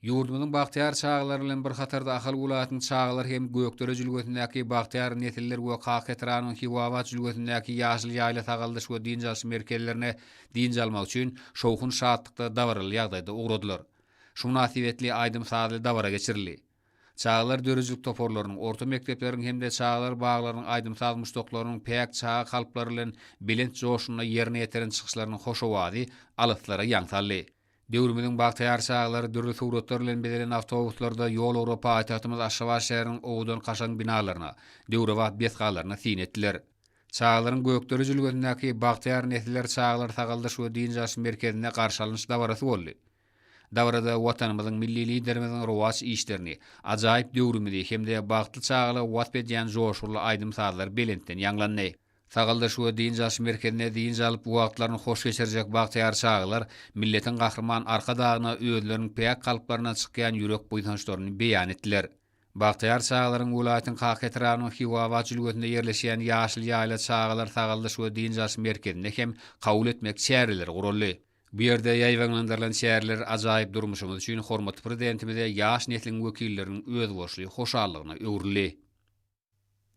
Speaker 5: Ýurdumyzyň bagtyýar çagalary bilen bir hatarda Ahal welaýatynyň çagalar hem Gökdere jülgesindäki Bagtyýar nesiller we Kaketranyň Hiwabat jülgesindäki Ýaşyl ýaýla sagaldyş we dynç alyş merkezlerine dynç almak üçin şowhun-şatlykda dabaraly ýagdaýda ugradylar. Şu mynasybetli aýdym-sazly dabara geçirildi. Çagalar döredijilik toparlarynyň, orta mekdepleriň hem-de çagalar baglarynyň aýdym-saz muşdaklarynyň päk çaga kalplary bilen belent joşgunda ýerine ýetiren çykyşlarynyň hoş owazy alyslara ýaň saldy. Döwrümiziň bagtyýar çaglary dürli suratlar bilen bezelen awtobuslarda ýol ugrap paýtagtymyz Aşgabat şäheriniň owadan-kaşaň binalaryna, döwrebap desgalaryna syn etdiler. Çagalaryň Gökdepe jülgesindäki Bagtyýar nesiller çagalar sagaldyş we dynç alyş merkezinde garşy alynyş dabarasy boldy. Dabarada Watanymyzyň Milli Liderimiziň rowaç işlerini, ajaýyp döwrümizi hem-de bagtly çagalygy wasp edýän joşgunly aýdym-sazlar belentden ýaňlandy. Sagaldyş we dynç alyş merkezinde dynç alyp wagtlaryny hoş geçirjek bagtyýar çagalar milletiň Gahryman Arkadagyna özleriniň päk kalplaryndan çykýan ýürek buýsançlaryny beýan etdiler. Bagtyýar çagalaryň welaýatyň Kaka etrabynyň Hiwabat jülgesinde ýerleşýän Ýaşyl ýaýla çagalar sagaldyş we dynç alyş merkezinde hem kabul etmek çäreleri guraldy. Bu ýerde ýaýbaňlandyrylan çäreler ajaýyp durmuşymyz üçin hormatly Prezidentimize ýaş nesliň wekilleriniň özboluşly hoşallygyna öwrüldi.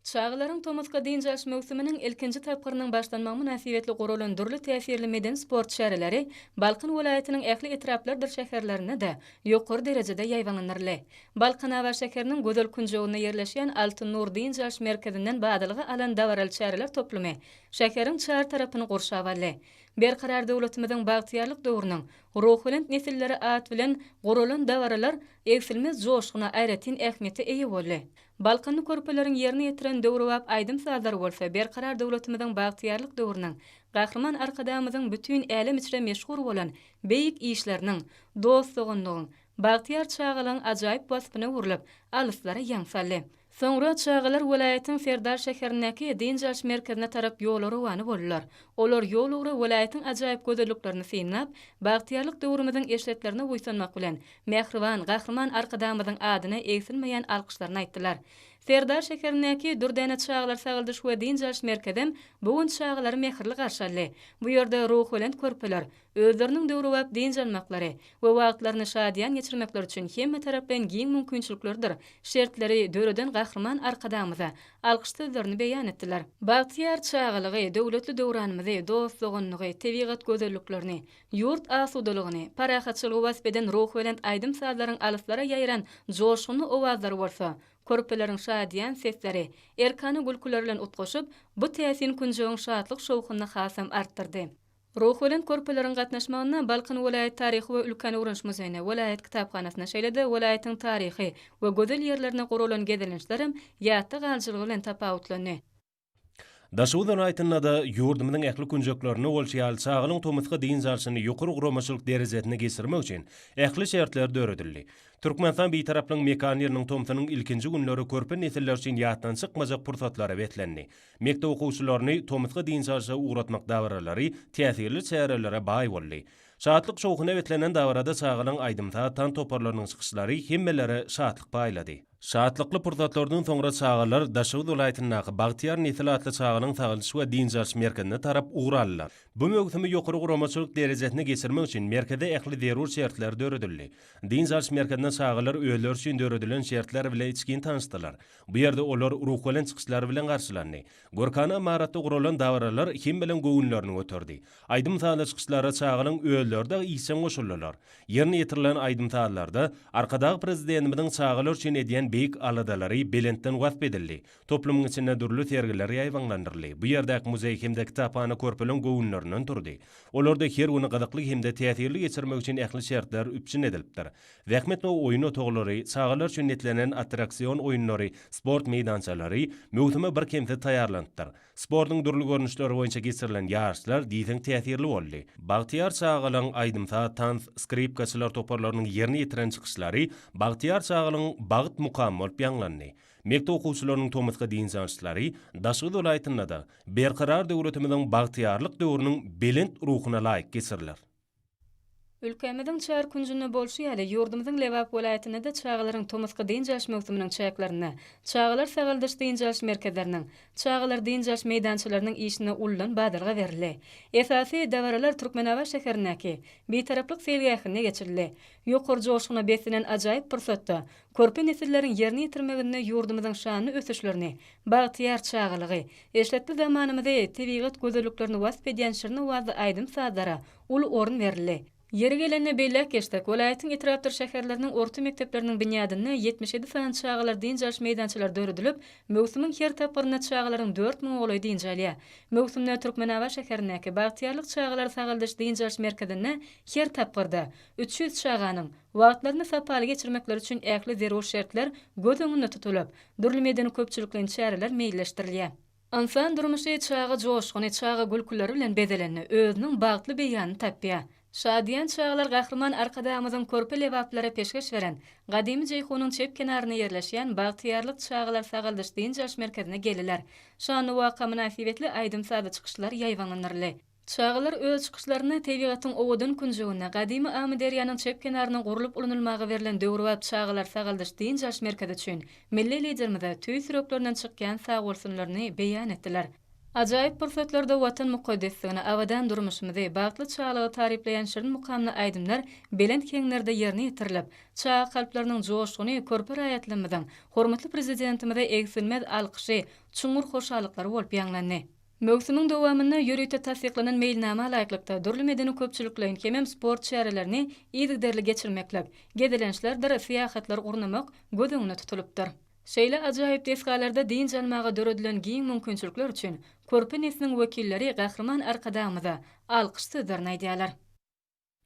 Speaker 6: Çagalaryň tomusky dynç alyş möwsüminiň ilkinji tapgyrynyň başlanmagy mynasybetli guralan dürli täsirli medeni-sport çäreleri Balkan welaýatynyň ähli etraplardyr şäherlerinde-de ýokary derejede ýaýbaňlandyryldy. Balkanabat şäheriniň gözel künjeginde ýerleşýän Altyn Nur dynç alyş merkezinden badalga alan dabaraly çäreler toplumy şäheriň çar tarapyny gurşap aldy. Berkarar döwletimiziň bagtyýarlyk döwrüniň ruhubelent nesilleri at bilen guralan dabaralar egsilmez joşguna, aýratyn ähmiýete eýe boldy. Balkanly körpeleriň ýerine ýetiren döwrebap aýdym-sazlary bolsa Berkarar döwletimiziň bagtyýarlyk döwrüniň, Gahryman Arkadagymyzyň bütin älem içre meşhur bolan beýik işleriniň, dost-doganlygyň, bagtyýar çagalygyň ajaýyp waspyna öwrülip, alyslara ýaň saldy. Soňra çagalar welaýatyň Serdar şäherindäki dynç alyş merkezine tarap ýola rowana boldular. Olar ýol ugra welaýatyň ajaýyp gözelliklerini synlap, bagtyýarlyk döwrümiziň eşretlerine buýsanmak bilen, Mähriban Gahryman Arkadagymyzyň adyna egsilmeýän alkyşlaryny aýtdylar. Serdar şäherindäki Dürdäne çagalar sagaldyş we dynç alyş merkezem bu gün çagalary mähirli garşy aldy. Bu ýerde ruhubelent körpeler özleriniň döwrebap dynç almaklary we wagtlaryny şadyýan geçirmekleri üçin hemmetaraplaýyn giň mümkinçiliklerdir şertleri döreden Gahryman Arkadagymyza alkyş sözlerini beýan etdiler. Bagtyýar çagalygy, döwletli döwranymyzy, dost-doganlygy, tebigat gözelliklerini, Ýurt asudalygyny, parahatçylygy wasp eden ruhubelent aýdym-sazlaryň alyslara ýaýran joşgunly owazlary bolsa, körpeleriň şadyýan sesleri, erkana gülküleri bilen utgaşyp, bu täsin künjegiň şatlyk-şowhunyny hasam artdyrdy. Ruhubelent körpeleriň gatnaşmagynda Balkan welaýat taryhy we ülkäni öwreniş muzeýine, welaýat kitaphanasyna, şeýle-de welaýatyň taryhy we gözel ýerlerine guralan gezelençlerem ýatda galyjylygy bilen tapawutlandy.
Speaker 4: Daşoguz welaýatynda-da, ýurdumyzyň ähli künjeklerinde bolşy ýaly, çagalyň tomusky dynç alşyny ýokary guramaçylyk derejesinde geçirmek üçin ähli şertler döredildi. Türkmenistan Bitaraplygyň mekan ýylynyň tomsunyň ilkinji günleri körpe nesiller üçin ýatdan çykmajak pursatlara beslendi. Mekdep okuwçylaryny tomusky dynç alşa ugratmak dabaralary täsirli çärelere baý boldy. Şatlyk-şowhuna beslenen dabarada çagalyň aýdym-saz, tans toparlarynyň çykyşlary hemmelere şatlyk paýlady. Şatlykly pursatlardan soňra çagalar Daşoguz welaýatyndaky Bagtyýar nesil atly çagalaryň sagaldyş we dynç alyş merkezine tarap ugur aldylar. Bu möwsümi ýokary guramaçylyk derejesinde geçirmek üçin merkezde ähli zerur şertler döredildi. Dynç alyş merkezinde çagalar özleri üçin döredilen şertler bile içgin tanyşdylar. Bu ýerde olar ruhubelent çykyşlar bilen garşylandy. Görkana ymaratda guralan dabaralar kim bilen göwünlerini göterdi. Aýdym-sazly çykyşlara çagalaň özleri dagy işjeň goşuldylar. Ýerine ýetirilen aýdym-sazlarda Arkadagly Prezidentimiziň çagalar üçin edýän beýik aladalary belentden wasp edildi. Toplumyň içinde dürli sergiler ýaýbaňlandyryldy. Bu ýerdäki muzeý hem-de kitaphana körpeleň göwünlerinden turdy. Olarda her güni gyzykly hem-de täsirli geçirmek üçin ähli şertler üpjün edilipdir. Zähmet we oýun otaglary, çagalar üçin netlenen attraksion oýunlary, sport meýdançalary möwsüme birkemsiz taýýarlanypdyr. Sportuň dürli görnüşleri boýunça geçirilen ýaryşlar diýseň täsirli boldy. Bagtyýar çagalaryň aýdym-saz, tans, skripkaçylar toparlarynyň ýerine ýetiren çykyşlary Bagtyýar çagalaryň Bagt mukamy bolup ýaňlandy. Mekdep okuwçylarynyň tomusky dynç alyşlary Daşoguz welaýatynda-da Berkarar döwletimiziň bagtyýarlyk döwrüniň belent ruhuna laýyk geçiriler.
Speaker 6: Ülkämiziň çar künjünde bolşy ýaly, ýurdumyzyň Lebap welaýatynda-da çagalaryň tomusky dynç alyş möwsüminiň çäklerinde çagalar sagaldyş-dynç alyş merkezleriniň, çagalar dynç alyş meýdançalarynyň işine uludan badalga berildi. Esasy dabaralar Türkmenabat şäherindäki Bitaraplyk seýilgähinde geçirildi. Ýokary joşguna beslenen ajaýyp pursatda körpe nesilleriň ýerine ýetirmeginde ýurdumyzyň şanly ösüşlerini, bagtyýar çagalygy, eşretli zamanamyzy, tebigat gözelliklerini wasp edýän şirin owazly aýdym-sazlara uly orun berildi. Ýeri gelende belläp geçsek, welaýatyň etrapdyr şäherleriniň orta mekdepleriniň binýadynda ýetmiş ýedi sany çagalar dynç alyş meýdançalary döredilip, möwsümiň her tapgyrynda çagalaryň dört müňe golaýy dynç alýar. Möwsümde Türkmenabat şäherindäki Bagtyýarlyk çagalar sagaldyş dynç alyş merkezinde her tapgyrda üç ýüz çaganyň wagtlaryny sapaly geçirmekleri üçin ähli zerur şertler göz öňünde tutulyp, dürli medeni-köpçülikleýin çäreler meýilleşdirilýär. Ynsan durmuşy çaga joşguny, çaga gülküleri bilen bezelende, özüniň bagtly beýanyny tapýar. Şadyýan çagalar Gahryman Arkadagymyzyň körpe lebaplara peşgeş beren, gadymy Jeýhunyň çep kenarynda ýerleşýän Bagtyýarlyk çagalar sagaldyş-dynç alyş merkezine geldiler. Şanly waka mynasybetli aýdym-sazly çykyşlar ýaýbaňlandyryldy. Çagalar öz çykyşlarynda tebigatyň owadan künjeginde, gadymy Amyderýanyň çep kenarynda gurlup ulunylmaga berlen döwrebap çagalar sagaldyş-dynç alyş merkezi üçin milli Liderimize tüýs ýüreklerinden çykýan sagbolsunlaryny beýan etdiler. Ajaýyp pursatlarda Watan mukaddesligini, abadan durmuşymyzy, bagtly çagalygy taryplaýan şirin mukamly aýdymlar belent heňlerde ýerine ýetirilip, çaga kalplarynyň joşguny körpe raýatlarymyzyň hormatly Prezidentimize egsilmez alkyşy, çuňňur hoşallyklary bolup ýaňlandy. Möwsümiň dowamynda ýörite tassyklanan meýilnama laýyklykda, dürli medeni-köpçülikleýin hemem sport çärelerini yzygiderli geçirmeklik, gezelençlerdir syýahatlar gurnamak göz öňünde tutulypdyr. Şeýle ajaýyp desgalarda dynç almaga döredilen giň mümkinçilikler üçin körpe nesliň wekilleri Gahryman Arkadagymyza alkyş sözlerini aýdýarlar.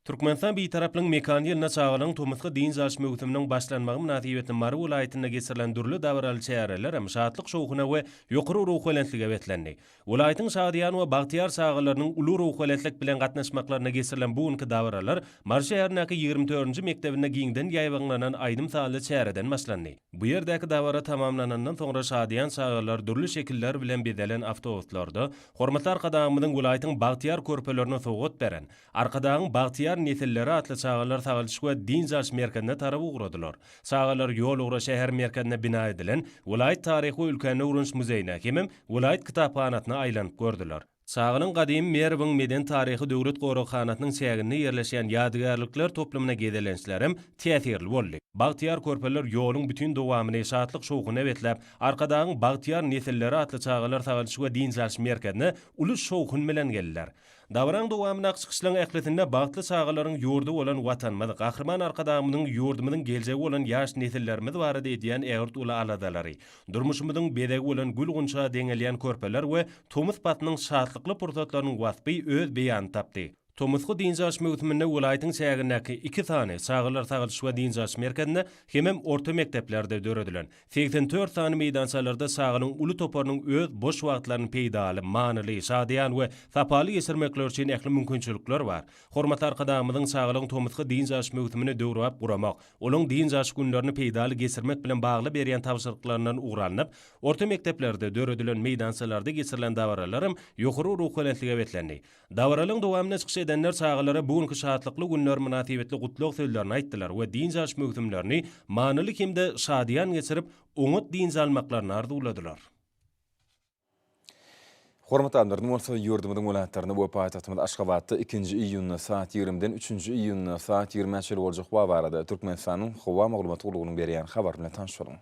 Speaker 6: Türkmenistan
Speaker 4: Bitaraplygyň mekany ýylynda çagalaryň tomusky dynç alyş möwsüminiň başlanmagy mynasybetli Mary welaýatynda geçirilen dürli dabaraly çäreler hem şatlyk-şowhuna we ýokary ruhubelentlige beslendi. Welaýatyň şadyýan we bagtyýar çagalarynyň uly ruhubelentlik bilen gatnaşmaklarynda geçirilen bu günki dabaralar Mary şäherindäki ýigrimi dördünji mekdebinde giňden ýaýbaňlanan aýdym-sazly çäreden başlandy. Bu ýerdäki dabara tamamlanandan soňra şadyýan çagalar dürli şekiller bilen bezelen awtobuslarda Hormatly Arkadagymyzyň welaýatyň bagtyýar körpelerine sowgat beren, Arkadagyň bagtyýar nesilleri atly çagalar sagalşyk we dynç alyş merkezine tarap ugradylar. Çagalar ýol ugra şäher merkezinde bina edilen welaýat taryhy we ülkäni öwreniş muzeýine hemem welaýat kitaphanasyna aýlanyp gördüler. Çagalar gadymy Merwiň medeni-taryhy döwlet goraghanasynyň çäginde ýerleşýän ýadygärlikler toplumyna gezelençler hem täsirli boldy. Bagtyýar körpeler ýoluň bütin dowamyny şatlyk-şowhuna besläp, Arkadagyň bagtyýar nesilleri atly çagalar sagalşyk we dynç alyş merkezine uly şowhun bilen geldiler. Dabaranyň dowamyndaky çykyşlaryň ählisinde bagtly çagalaryň ýurdy bolan Watanymyz, Gahryman Arkadagymyzyň ýurdumyzyň geljegi bolan ýaş nesillerimiz barada edýän ägirt uly aladalary, durmuşymyzyň bezegi bolan gül-gunça deňelýän körpeler we tomus paslynyň şatlykly pursatlarynyň waspy öz beýanyny tapdy. Tomusky dynç alyş möwsüminde welaýatyň çägindäki iki sany çagalar sagaldyş we dynç alyş merkezinde hemem orta mekdeplerde döredilen Segsen dört sany meýdançalarda çaganyň uly toparynyň öz boş wagtlaryny peýdaly, manyly, şadyýan we sapaly geçirmekleri üçin ähli mümkinçilikler bar. Hormatly Arkadagymyzyň çagalaryň tomusky dynç alyş möwsümini döwrebap guramak, olaň dynç alyş günlerini peýdaly geçirmek bilen bagly berýän tabşyryklaryndan ugur alnyp, orta mekdeplerde döredilen meýdançalarda geçirilen dabaralaram ýokary ruhubelentlige beslendi. Dabaralyň dowamynda çykyş edenler çagalara bu günki şatlykly günler mynasybetli gutlag sözlerini aýtdylar we dynç alyş möwsümlerini manyly hem-de şadyýan geçirip, oňat dynç almaklaryny arzuwladylar.
Speaker 3: Hormatly adamlar, indi bolsa ýurdumyzyň welaýatlarynda we paýtagtymyz Aşgabatda ikinji iýunda saat ýigrimiden üçünji iýunda saat ýigrimä çenli boljak wagt barada Türkmenistanyň Howa maglumat gullugynyň berýän habary bilen tanyş boluň.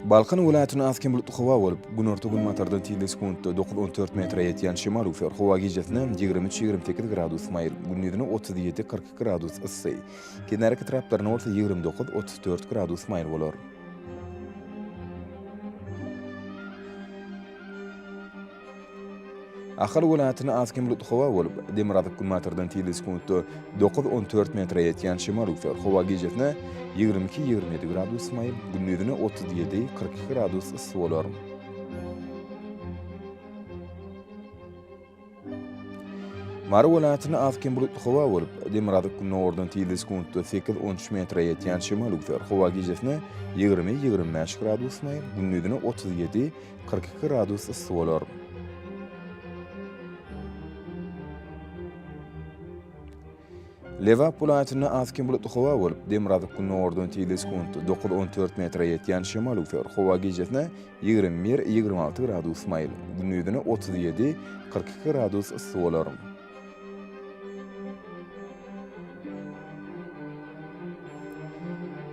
Speaker 3: Balkan welaýatynda az hem bulutly howa bolup, günorta-günbatardan tizligi sekuntda dokuz on dört metre ýetýän şemal üfär. Howa gijesi ýigrimi üç ýigrimi sekiz gradus maýyl, gündizine otuz ýedi kyrk iki gradus yssy. Kenar etraplarynda bolsa ýigrimi dokuz, otuz dört gradus maýyl bolar. Ahal welaýatynda az-kem bulutly howa bolup, demirgazyk-günbatardan tizligi sekuntda dokuz, on dört metre ýetýän şemal üwser. Howa gijesine ýigrimi iki, ýigrimi ýedi gradus maýyl, gündizine otuz ýedi, kyrk iki gradus yssy bolar. Mary welaýatynda az kem bulutly howa bolup, demirgazyk gündogardan tizligi sekuntda sekiz, on üç metre ýetýän şemal üwser. Howa gijesine ýigrimi, ýigrimi bäş gradus maý, gündizine otuz ýedi, kyrk iki gradus yssy bolar. Lebap welaýatynda az kim bulutly howa bolup, demirgazyk gündogardan tizligi sekuntda dokuz-on dört metre ýetýän şemal öwser. Howa gijesine ýigrimi bir-ýigrimi alty gradus maýyl, gündizine otuz ýedi-kyrk iki gradus yssy bolar.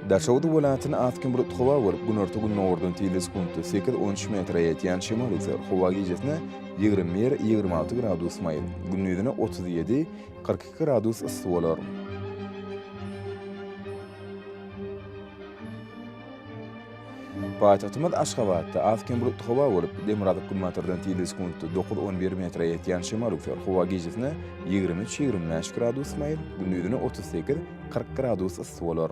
Speaker 3: Daşoguz welaýatynda az kim bulutly howa bolup, günorta-gündogardan tizligi sekuntda sekiz-on üç metre ýetýän şemal öwser. Howa gijesine ýigrimi bir-ýigrimi alty gradus maýyl, gündizine otuz ýedi, Kyrk iki gradus yssy bolar. Paýtagtymyz Aşgabatda az-kem bulutly howa bolup, demirgazyk-günbatardan tirli sekuntda dokuz, on bir metre ýetýän şemal üwser. Howa gijesine ýigrimi üç, ýigrimi bäş gradus maýyl, gündizine otuz sekiz, kyrk gradus yssy bolar.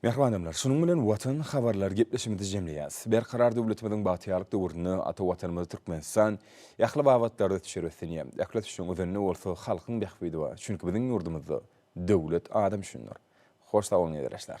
Speaker 3: Mähribanymlar, şunuň bilen Watan habarlary gepleşigimizi jemleýäs. Berkarar döwletimiziň bagtyýarlyk döwründe ata Watanymyz Türkmenistan ähli babatlarda düşer ösünýär. Ähli ösüşiň özende bolsa halkyň bähbidi bar. Çünki biziň ýurdumyzda döwlet adam üçindir. Hoş sag boluň ezireşler.